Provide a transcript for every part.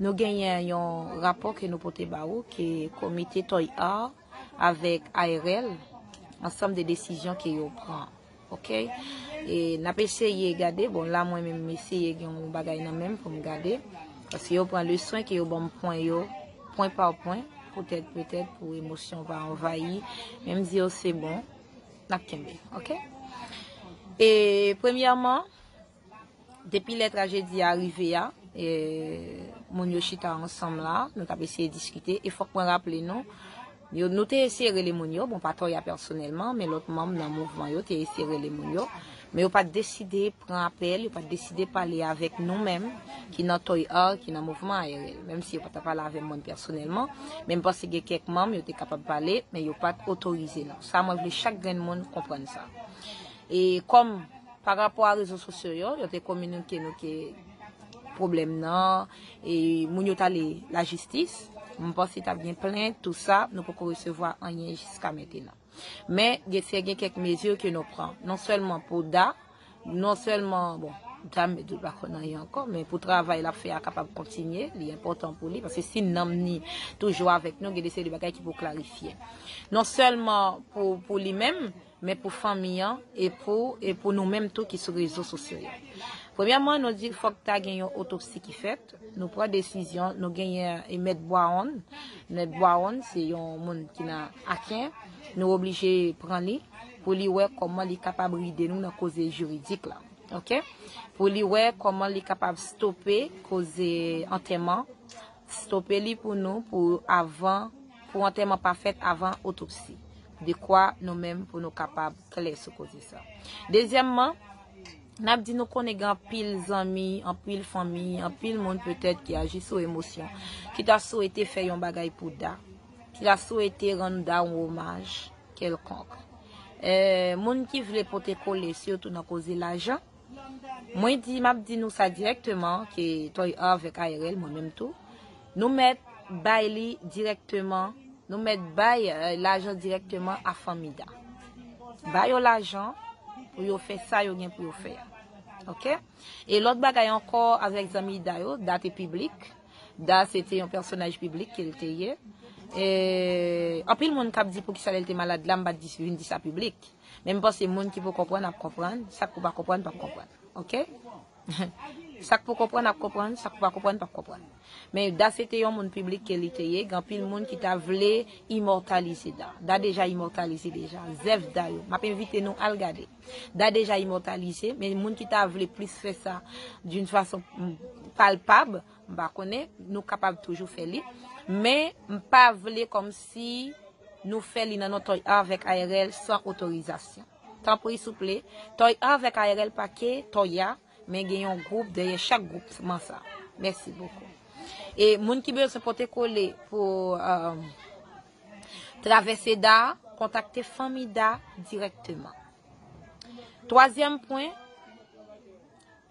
Nou genyen yon rapò ke nou pote ba ou ke komite Toy Art avèk ARL ansanm de desizyon ke yo pran. Ok. E n ap eseye gade, bon la mwen menm m eseye gen yon bagay nan menm pou m gade. Paske yo pran leswen ke yo ban m pwen yo, pwen pa pwen. Poutèt, poutèt pou emosyon pa anvayi. Men m di yo se bon. N ap kenbe. Ok. E premyèman. Depi lè trajedi a rive a, moun yo chita ansanm la, nou t ap eseye diskite, e fòk mwen raple nou, nou te eseye rele moun yo, bon pa Toya pèsonèlman, men lòt manm nan mouvman yo te eseye rele moun yo, men yo pa t deside pran apèl, yo pa t deside pale avèk nou menm ki nan Toy Art, ki nan mouvman ARL. Menm si yo pa t pale avè mwen pèsonèlman, men m panse gen kèk manm yo te kapab pale, men yo pa t otorize nou. Sa mwen vle chak grenn moun konprann sa. E kòm. Pa rapò a rezo sosyo yo, yo te kominike nou ke pwoblèm nan e moun yo t ale lajistis. M panse t ap gen plent, tou sa, nou poko resevwa anyen jiska mentenan. Men, gen se gen kèk mezi ke nou pran. Non sèlman pou Da, non sèlman, bon, Da m di l pa konn anyen ankò, men pou travay l ap fè a kapab kontinye, li enpòtan pou li, paske si nanm ni toujou avèk nou, gen de seri de bagay ki pou klarifye. Non sèlman pou li menm, men pou fanmi an e pou e pou nou menm tou ki sou rezo sosyo yo. Premyèman, nou di fòk ta gen yon otopsi ki fèt, nou pran desizyon, nou genyen e mèt Bwaonn, mèt Bwaonn se yon moun ki nan Aken, nou oblije pran li pou li wè kòman li kapab ride nou nan koze jiridik la. Ok. Pou li wè kòman li kapab stope koze antèman. Stope li pou nou pou avan pou antèman pa fèt avan otopsi. Dekwa nou menm pou nou kapab klè sou koze sa. Dezyèmman, n ap di nou konnen gen anpil zanmi, anpil fanmi, anpil moun petèt ki aji sou emosyon, ki ta swete fè yon bagay pou Da, ki ta swete rann Da yon omaj kèlkonk. Moun ki vle pote kole sitou nan koze lajan. Mwen di, map di nou sa direkteman ke Toy avèk ARL mwen menm tou, nou mèt bay li direkteman, nou mèt bay lajan direkteman a fanmi Da. Ba yo lajan pou yo fè sa yo gen pou yo fè a. Ok? E lòt bagay ankò avèk zanmi Da yo, Da te piblik, Da se te yon pèsonaj piblik ke l te ye. E anpil moun kap di poukisa lè l te malad la m pat vin di sa piblik. Men m panse moun ki pou konprann ap konprann, sak pou pa konprann pap konprann. Ok? Sak pou konprann ap konprann, sak pou pa konprann pap konprann. Men Da se te yon moun piblik ke li te ye, gen anpil moun ki ta vle imòtalize Da. Da deja imòtalize deja. Zèv Da yo. Map envite nou al gade. Da deja imòtalize, men moun ki ta vle plis fè sa d'une façon palpable, M pa konnen, nou kapab toujou fè li. Men, m pa vle kòm si nou fè li nan non Toy Art vèk ARL san otorizasyon. Tanpri souple, Toy Art vèk ARL pa ke Toy Art, men gen yon gwoup dèyè chak gwoup man sa. Mèsi bokou. E moun ki bezwen pote kole pou travèse Da, kontakte Fanmi Da dirèkteman. Twazyèm pwen.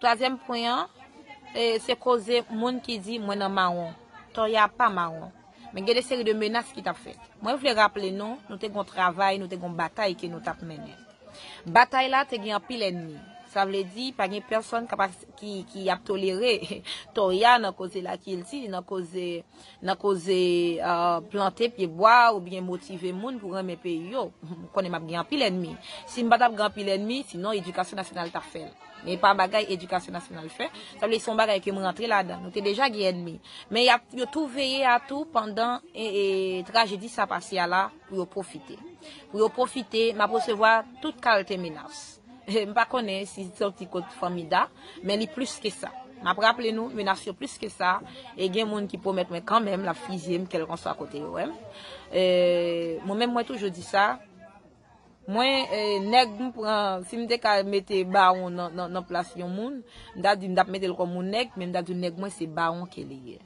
Twazyèm pwen an, se koze moun ki di mwen nan mawon. Tò ya pa mawon. Men gen de seri de menas ki t ap fèt. Mwen vle raple nou, nou te gen yon travay, nou te gen yon batay ke nou t ap mennen. Batay la te gen anpil ènmi. Sa vle di, pa gen pèsòn ki ap tolere tò ya nan koze lakilti, nan koze, nan koze plante pye bwa ou byen motive moun pou renmen peyi yo. M konnen m ap gen anpil ènmi. Si m pa t ap gen anpil ènmi, sinon edikasyon nasyonal t ap fè l. E pa bagay edikasyon nasyonal fè. Sa vle di son bagay ke m rantre ladan. Nou te deja gen ènmi. Men y ap yo tou veye a tou pandan trajedi sa pase a la pou yo pwofite. Pou yo pwofite, m ap resevwa tout kalte menas. M pa konnen si li soti kot Fanmida, men li plis ke sa. M ap raple nou, menas yo plis ke sa, e gen moun ki pwomèt mwen kanmenm l ap fizye m kèlkanswa kote yo wè m. Mwen menm mwen toujou di sa. Mwen nèg m pran si m te ka mete bawon nan plas yon moun m ta di m tap metel kòm yon nèg men m ta di nèg mwen se bawon ke li ye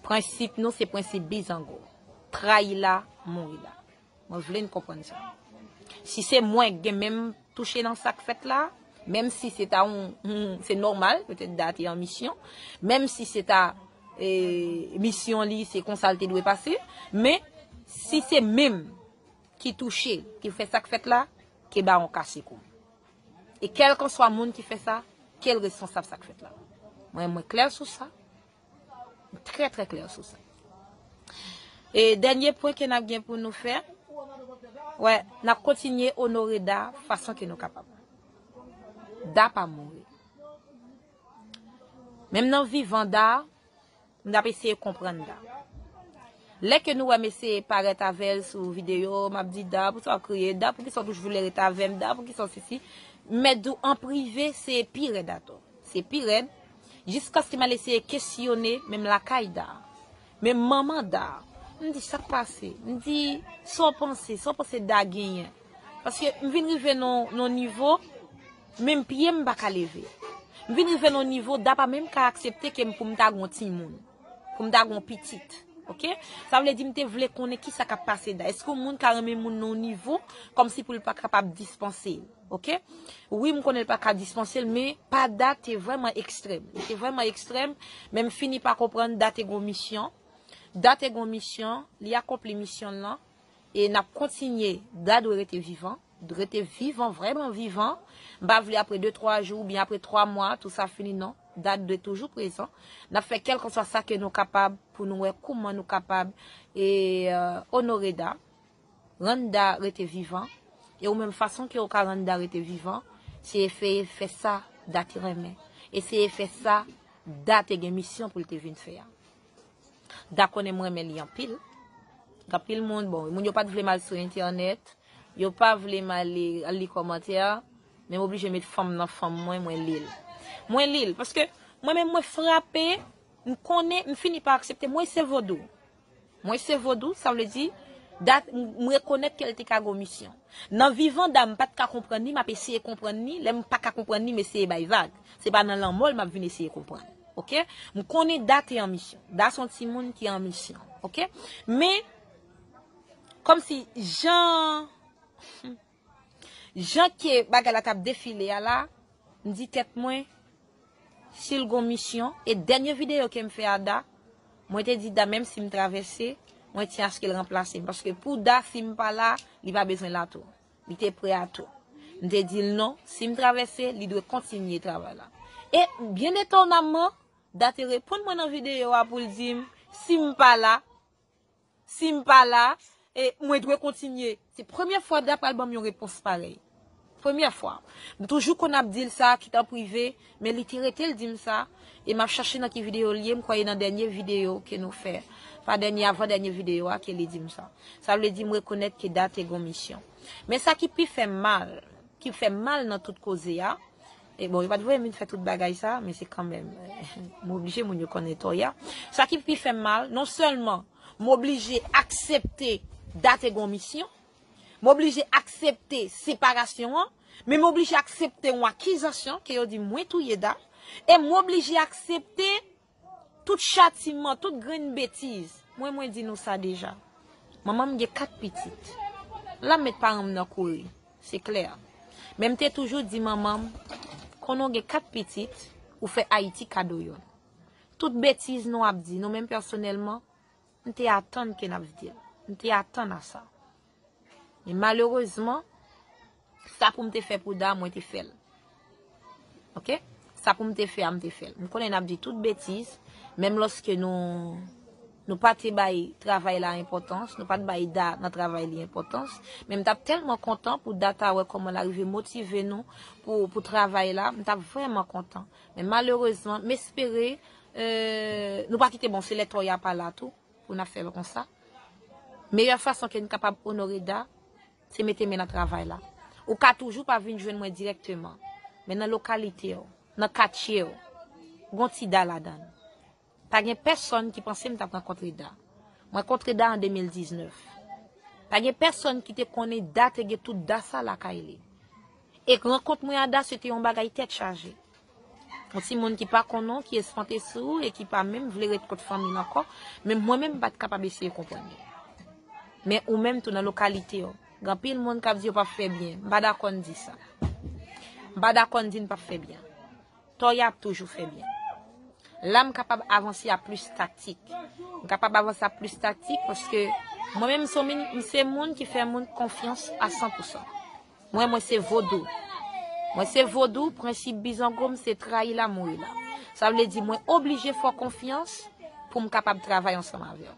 prensip nou se prensip bizango trayi la mouri la mwen vle n konprann sa si se mwen k gen men m touche nan sak fèt la menm si se ta yon se nòmal petèt da te an misyon menm si se ta misyon li se konsa l te dwe pase men si se menm ki touche, ki fè sak fèt la, ke bawon kache kou. E kèlkanswa moun ki fè sa, ke l responsab sak fèt la. Mwen, mwen klè sou sa. Mwen trè trè klè sou sa. E dènye pwen ke nap gen pou nou fè, wè, nap kontinye onore Da fason ke nou kapab. Da pa mouri. Menm nan vivan Da, M tap eseye konprann Da. Lè ke nou wè m eseye parèt avèl sou video, m ap di Da, poukisa w kriye? Da, poukisa w toujou vle ret avèm? Da, poukisa w si si? M mèt di w an prive, se pi rèd atò. Se pi rèd, jiskaske m al eseye kesyone menm lakay Da. Menm manman Da. M di, sak pase? M di, sa w panse? Sa w panse Da genyen? Paske m vin rive nan yon nivo. Menm pye m pa ka leve. M vin rive nan yon nivo Da pa menm ka aksepte ke m pou m ta gen yon timoun. Pou m ta gen yon pitit. Ok. Sa vle di m te vle konnen ki sa k ap pase Da. Eske yon moun ka renmen yon moun nan yon nivo kòmsi pou l pa kapab dispanse l. Ok. Wi m konnen l pa ka dispanse l men pa Da te vrèman ekstrèm. Li te vrèman ekstrèm men m fini pa konprann Da te gen yon misyon. Da te gen yon misyon. Li akonpli misyon l lan. E nap kontinye Da dwe rete vivan Drete vivan vreman vivan M pa vle apre de twa jou oubyen apre twa mwa tou sa fini non Da dwe toujou prezan Nap fè kèlkanswa sa ke nou kapab pou nou wè kouman nou kapab e onore Da Rann Da rete vivan E ou menm fason ke ou ka rann Da rete vivan se efeye fè sa Da te renmen Eseye fè sa Da te gen misyon pou l te vin fè a. Da konnen m renmen li anpil. Anpil moun, bon, moun yo pat vle m al sou entènèt, yo pa vle m ale al li kòmantè, men m oblije met fanm nan fanm mwen, mwen li l. Mwen li l, paske mwen menm mwen frape, m konnen, m fini pa aksepte, mwen se vodou. Mwen se vodou, sa vle di, dat, m rekonèt ke l te ka gon misyon. Nan vivan da m pat ka konprann li map eseye konprann li lèm paka konprann li m eseye bay vag se pa nan lanmò l map vin eseye konprann ok m konnen da te an misyon da son timoun ki an misyon ok men kòmsi jan humm jan ke bagay la tap defile a la m di tèt mwen Sil gon misyon, e dènye videyo kem fè a Da, mwen te di Da menm sim travèse, mwen ti askel ranplasem paske pou Da sim pa la, li pa bezwen la tou. Li te prè a tou. M te dil non, sim travèse, li dwe kontinye travay la. E byen etonamman, Da te reponn mwen nan videyo a poul dim sim pa la, Si m pa la, e, mwen dwe kontinye. Se premye fwa Abda pral ban m yon repons parèy. Premye fwa. M toujou konn ap di l sa, kit an prive, men li te rete l di m sa, e m ap chache nan ki videyo l ye, m kwè e nan dènye videyo ke nou fè, pa dènye, avan dènye videyo a ke li di m sa. Sa vle di m rekonèt ke Da te gon misyon. Men sa ki pi fè m mal, ki fè m mal nan tout koze a, E bon, yo pat voye m vin fè tout bagay sa, men se kanmenm, m oblije moun yo konnen tò ya. Sa ki pi fè m mal, non sèlman m oblije aksepte Date gen yon misyon, m oblije aksepte separasyon an, men m oblije aksepte yon akizasyon ke yo di mwen touye Date, e m oblije aksepte Tout chatiman, tout grenn betiz. Mwen mwen di nou sa deja. Manman m gen 4 pitit. La m met paran m nan kouri. Se klè. Men m te toujou di manman m, konnen w gen 4 pitit, ou fè Ayiti kado youn. Tout betiz nou ap di, nou menm pèsonèlman, m te atann ke n ap di l. M te atann a sa. Men malerezman, sa pou m te fè pou Da, mwen te fè l. Ok? Sa pou m te fè a, m te fè l. M konnen n ap di tout betiz, menm lòske nou pa te bay travay la enpòtans, nou pa te bay Da nan travay li enpòtans, men m t ap tèlman kontan pou Da ta wè kòman l arive motive nou pou travay la, m t ap vrèman kontan. Men malerezman, m espere nou pa kite bon se lè tò y a pa la tou. Pou n ap fè l konsa, meyè fason ke n kapab onore Da, se mete men nan travay la. Ou ka toujou pa vin jwenn mwen dirèkteman, men nan lokalite w, nan katye w, gon ti Da ladan l. Pa gen pèsonn ki panse m t ap rankontre Da. Mwen kontre Da an 2019. Pa gen pèsonn ki te konnen Da te gen tout Da sa lakay li. E rankont mwen a Da se te yon bagay tèt chaje. Yon ti moun ki pa konnen w, ki espante sou ou e ki pa menm vle ret kot fanmi l ankò, menm mwen menm m pa t kapab eseye konprann yo. Men ou menm tou nan lokalite w, gen anpil moun k ap di yo p ap fè byen. M pa dakò n di sa. M pa dakò n di n p ap fè byen. Toye ap toujou fè byen. La m kapab avanse a plis taktik. M kapab avanse a plis taktik paske mwen menm m se yon moun ki fè moun konfyans a san pou san. Mwen mwen se vodou. Mwen se vodou, prensip bizango m se trayi la mouri la. Sa vle di mwen oblije fè w konfyans pou m kapab travay ansanm avè w.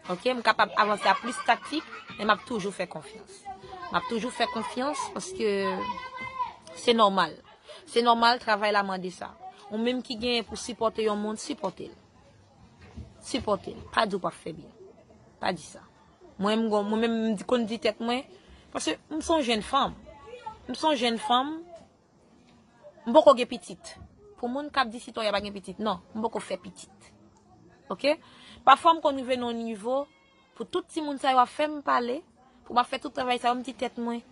Ok, m kapab avanse a plis taktik, men m ap toujou fè konfyans. M ap toujou fè konfyans paske se nòmal. Se nòmal, travay la mande sa. Ou menm ki genyen pou sipòte yon moun, sipòte l. Sipòte l. Pa di w pa p fè byen. Pa di sa. Mwen m gon mwen menm m konn di tèt mwen paske m son jenn fanm m son jenn fanm m poko gen pitit pou moun kap di sitòya pa gen pitit nan m poko fè pitit ok pafwa m konn rive nan yon nivo pou tout ti moun sa yo ap fè m pale pou m ap fè tout travay sa yo m di tèt mwen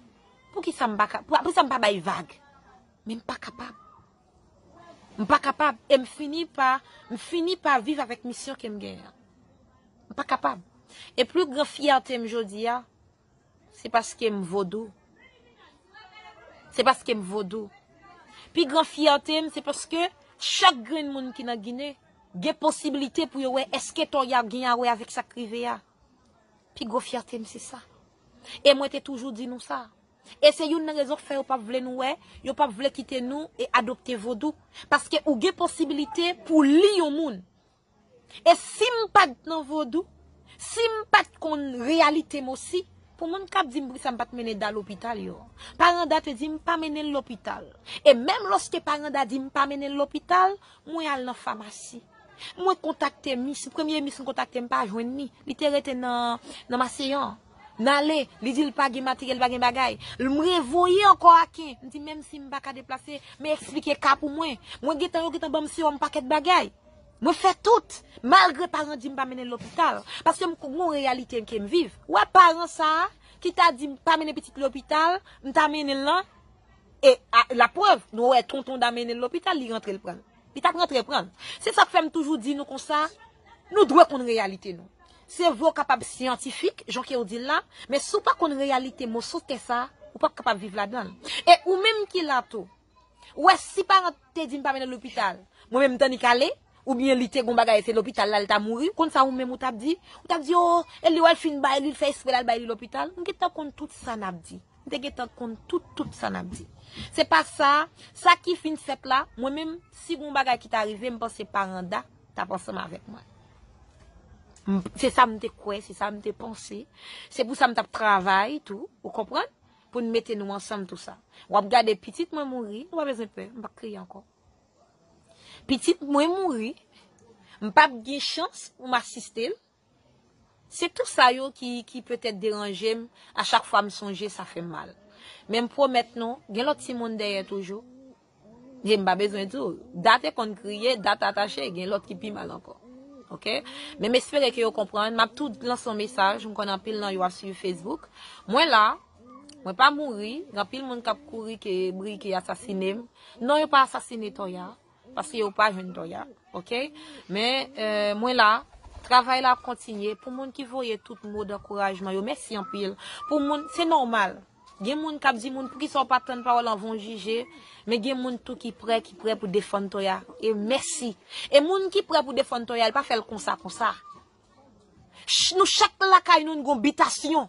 poukisa m pa ka poukisa m pa bay vag men m pa kapab. M pa kapab e m fini pa m fini pa viv avèk misyon ke m genyen an. M pa kapab. E pli gran fyète m jodi a, se paske m vodou. Se paske m vodou. Pi gran fyète m se paske chak grenn moun ki nan Ginen gen posiblite pou yo wè eske to y ap gen a wè avèk sa k rive a. Pi gwo fyète m se sa. E mwen te toujou di nou sa. E se youn nan rezon k fè yo pap vle nou wè, yo pap vle kite nou e adopte vodou. Paske ou gen posibilite pou w li yon moun. E si m pa t nan vodou, si m pa t konn reyalite m osi, pou moun k ap di m poukisa m pa t mennen Da lopital yo. Paranda te di m pa mennen l lopital. E menm lòske Paranda di m pa mennen l lopital, mwen al nan famasi. Mwen kontakte mis, premye mis m kontakte m pa jwenn ni, li te rete nan maseyan. M ale, li di l pa gen materyèl, pa gen bagay. L m revoye ankò aken, m di menm si m pa ka deplase, men eksplike ka pou mwen. Mwen gen tan yo gen tan ban m sewòm pakèt bagay. Mwen fè tout, malgre paran di m pa mennen l lopital. Paske m gon reyalite ke m viv. Ou wè paran sa a, ki ta di m pa mennen pitit lopital, m ta mennen l lan, e laprèv, nou wè tonton da mennen l lopital, li rantre l pran l. Li tap rantre pran l. Se sak fè m toujou di nou konsa, nou dwe konn reyalite nou. Sèvo w kapab syantifik, jan ke w di l la, men si w pa konn reyalite moso tè sa, ou pap kapab viv ladan l. E ou menm ki la tou, ou wè si paran w te di m pa mennen l lopital, mwen menm m tannik ale, oubyen li te gon bagay se lopital la li ta mouri, ou konn sa ou menm ou tap di? Ou tap di, oo, e li wè l fin bay li, l fè espre l al bay li lopital? Nou gentan konn tout sa nap di. M te gentan konn tout tout sa nap di. Se pa sa, sa ki fin fèt la, mwen menm, si gon bagay ki ta rive, m panse Paranda tap ansanm avèk mwen. Se sa m te kwè, se sa m te panse, se pou sa m tap travay tou, ou konprann, pou n mete nou ansanm tou sa. Wap gade pitit mwen mouri, ou pa bezwen pè, m pap kriye ankò. Pitit mwen mouri, m pap gen chans pou m asiste l, Se tou sa yo ki ki petèt deranje m, a chak fwa m sonje sa fè m mal. Men m pwomèt nou, gen lòt timoun dèyè toujou. Ye m pa bezwen di w, Da te konn kriye, Da ta tache, gen lòt ki pi mal ankò. Ok? Men m espere ke yo konprann, m ap tou lanse yon mesaj, m konnen anpil nan yo ap suiv Facebook. Mwen la, mwen pa mouri, gen anpil moun k ap kouri ke Briky asasine m. Non yo pa asasine Toya. Paske yo pa jwenn dòy a ok. Men mwen la Travay la ap kontinye pou moun ki voye tout mo dankourajman yo mèsi anpil pou moun se nòmal gen moun kap di moun poukisa ou pa tann pawòl anvan ou jije men gen moun tou ki prè ki prè pou defann Toya e mèsi e moun ki prè pou defann Toya l pa fèl konsa konsa nou chak lakay nou n gon bitasyon.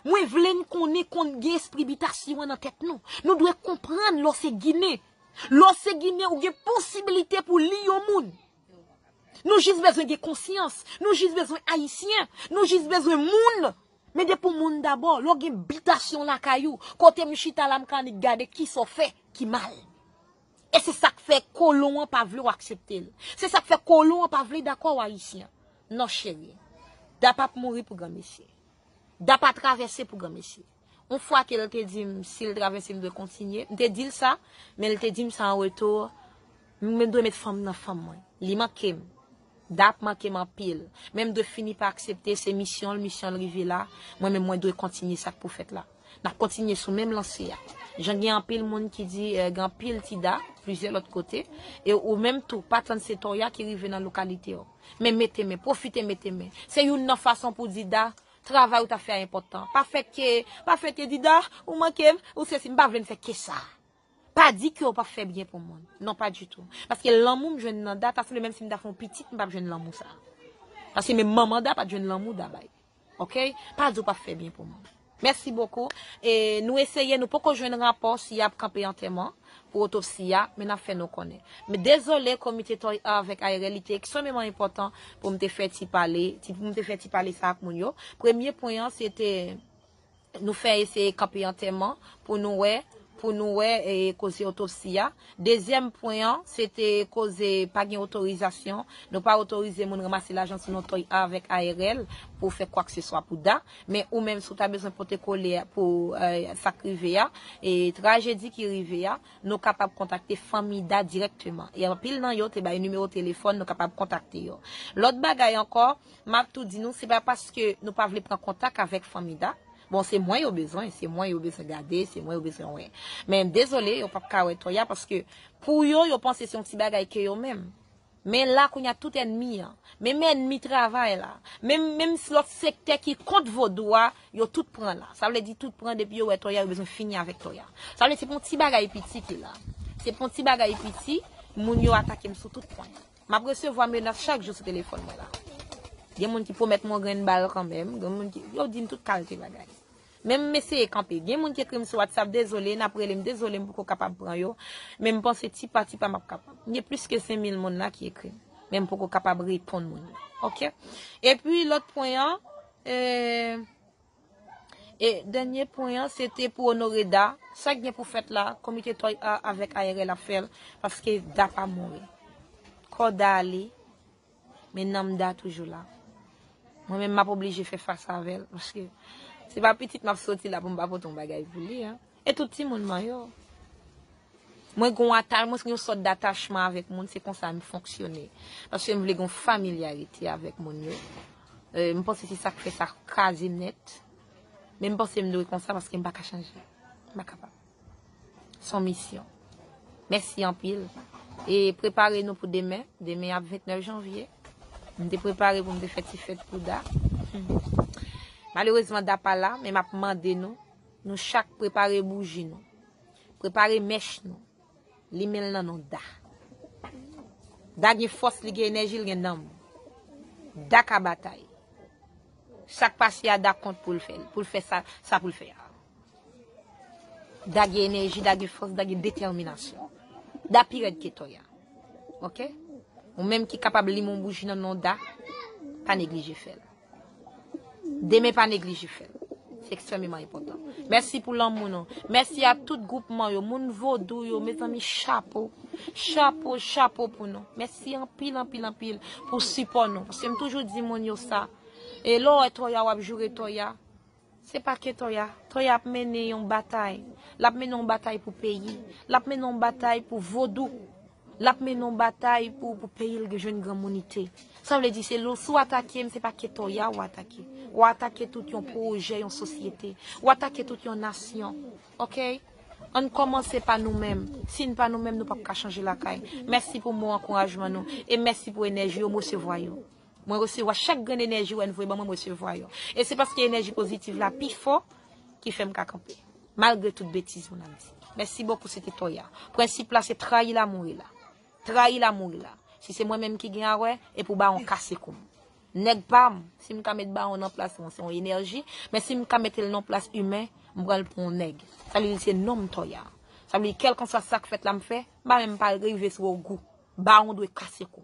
Mwen vle n konnen konn gen espri bitasyon an nan tèt nou. Nou dwe konprann lè w se ginen. Lè w se ginen ou gen posibilite pou li yon moun. Nou jis bezwen gen konsyans. Nou jis bezwen ayisyen. Nou jis bezwen moun. Mete pou moun dabò. Lè w gen bitasyon lakay ou. Kote m chita la m ka annik gade kisa w fè ki mal. E se sa k fè kolon an pa vle w aksepte l. Se sa k fè kolon an pa vle dakò w ayisyen. Non cheri. Da pap mouri pou granmesi. Da pa travèse pou granmesi. On fwa ke l te di m si l travèse m dwe kontinye, m te di l sa, men l te di m sa an reto, m dwe met fanm nan fanm mwen. Li manke m. Da ap manke m anpil. Men m dwe fini pa aksepte se misyon l, misyon l rive la, mwen menm mwen dwe kontinye sa k pou fèt la. N ap kontinye sou menm lanse a. Jan gen anpil moun ki di gen anpil ti Da plizyè lòt kote, e ou menm tou pa tann se Toya ki rive nan lokalite w. Men mete men, pwofite mete men. Se youn nan fason pou di Da, travay ou t ap fè a enpòtan. Pa fè ke, pa fè ke di Da, ou manke m, ou sesi, m pa vle m fè ke sa. Pa di ke ou p ap fè byen pou moun. Non pa ditou. Paske lanmou m jwenn nan Da, ta sanble menm si m ta fè yon pitit m p ap jwenn lanmou sa. Paske menm manman Da pa t jwenn lanmou Da bay. Ok pa di ou pap fè byen pou moun. Mèsi bokou e nou eseye nou poko jwenn rapò si yap kanpe antèman pou otopsi a men nap fè nou konnen. M dezole komite toi a avèk ARL li te eksomeman enpòtan pou m te fè ti pale, ti pou m te fè ti pale sa ak moun yo. Premye pwen an se te. Nou fè eseye kanpe antèman pou nou wè, pou nou wè koze otopsi a. Dezyèm pwen an, se te koze pa gen otorizasyon. Nou pa otorize moun ranmase lajan sou non Toy A avèk ARL pou fè kwakseswa pou Da. Men ou menm si w ta bezwen pote kole pou sa k rive a, trajedi ki rive a, nou kapab kontakte fanmi Da dirèkteman. E anpil nan yo te bay nimewo telefòn nou kapab kontakte yo. Lòt bagay ankò, Map tou di nou se pa paske nou pa vle pran kontak avek fanmi da, bon se mwen yo bezwen, se mwen yo bezwen gade, se mwen yo bezwen wè. Men dezole yo pap ka wè Toya paske pou yo yo panse se yon ti bagay ke yo menm. Men la kounya tout enmi an, menm enmi travay la, menm menm lòt sektè ki kont vodou a, yo tout pran la. Sa vle di tout pran depi yo wè Toya yo bezwen fini avek Toya. Sa vle di se pa yon ti bagay piti ki la. Se pa yon ti bagay piti, moun yo atakem sou tout pwen. Map resevwa menas chak jou sou telefòn mwen la. Gen moun ki pwomèt m yon grenn bal kanmenm, gen moun ki, yo di m tout kalte bagay. Men m eseye kanpe. Gen moun ki ekri m sou WhatsApp, dezole, n ap rele m, dezole m poko kapab pran yo, men m panse ti pa ti pa m ap kapab. Gen plis ke 5000 moun la ki ekri m, men m poko kapab reponn moun yo. Ok. Epi lòt pwen an, e. E dènye pwen an se te pou onore Da. Sa k gen pou fèt la, komite Toy A avèk ARL ap fè l, paske Da pa mouri. Kò Da ale, men nanm Da toujou la. Mwen menm m ap oblije fè fas avè l, paske se pa pitit m ap soti la pou m pa pote yon bagay pou li. E tout timoun mwen yo. Mwen gen yon atach, mwen gen yon sòt datachman avèk moun, se konsa m fonksyone. Paske m vle gen yon familyarite avèk moun yo. M panse se sa k fè sa kraze m nèt. Men m panse m dwe konsa paske m pa ka chanje. M pa kapab. Se yon misyon. Mèsi anpil. E prepare nou pou demen. Demen ap 29 janvye. M te prepare pou m te fè ti fèt pou Da. Malerezman Da pa la, men m ap mande nou. Nou chak prepare bouji nou. Prepare mèch nou. Limen l nan non Da. Da gen fòs, li gen enèji, li gen nanm. Da ka batay. Sa k pase a, Da kont pou l fè l. Pou l fè sa pou l fè a. Da gen enèji, Da gen fòs, Da gen detèminasyon. Da pi rèd ke Tòya. Ok? Ou menm ki kapab limen yon bouji nan non Da, pa neglije fè l. Demen pa neglije fèl. Se ekstrememan enpotan. Mèsi pou lanmou nou. Mèsi a tout gwoupman yo. Moun vodou yo. Mezanmi chapo. Chapo, chapo pou nou. Mèsi anpil, anpil, anpil pou sipò nou. Paske m toujou di moun yo sa. E lè w wè toya w ap joure toya. Se pa ke Toya. Toya ap mennen yon batay. L ap mennen yon batay pou peyi. L ap mennen yon batay pou vodou. L ap mennen yon batay pou peyi l jwenn granmounite. Sa vle di se lè si w atake m se pa ke Toya w atake. W atake tout yon pwojè, yon sosyete. W atake tout yon nasyon. Ok? An n kòmanse pa nou menm. Si n pa nou menm nou pap ka chanje lakay. Mèsi pou mo ankourajman nou. E mèsi pou enèji yo. M resevwa yo. Mwen resevwa chak grenn enèji ou envoye ban mwen m resevwa yo e se paske enèji pozitiv la pi fò ki fèm ka kanpe malgre tout betiz moun ap di mèsi bokou se te toya prensip la se trayi la mouri la trayi la mouri la si se mwen menm ki gen awè e pou bawon kase koum nèg pam sim ka met bawon nan plas mwen se yon enèji men sim ka metel nan plas imen m pran l pou yon nèg sa vle di se nonm toya sa vle di kelkanswa sak fèt la m fè m pa menm pa rive sou ogou bawon dwe kase koum.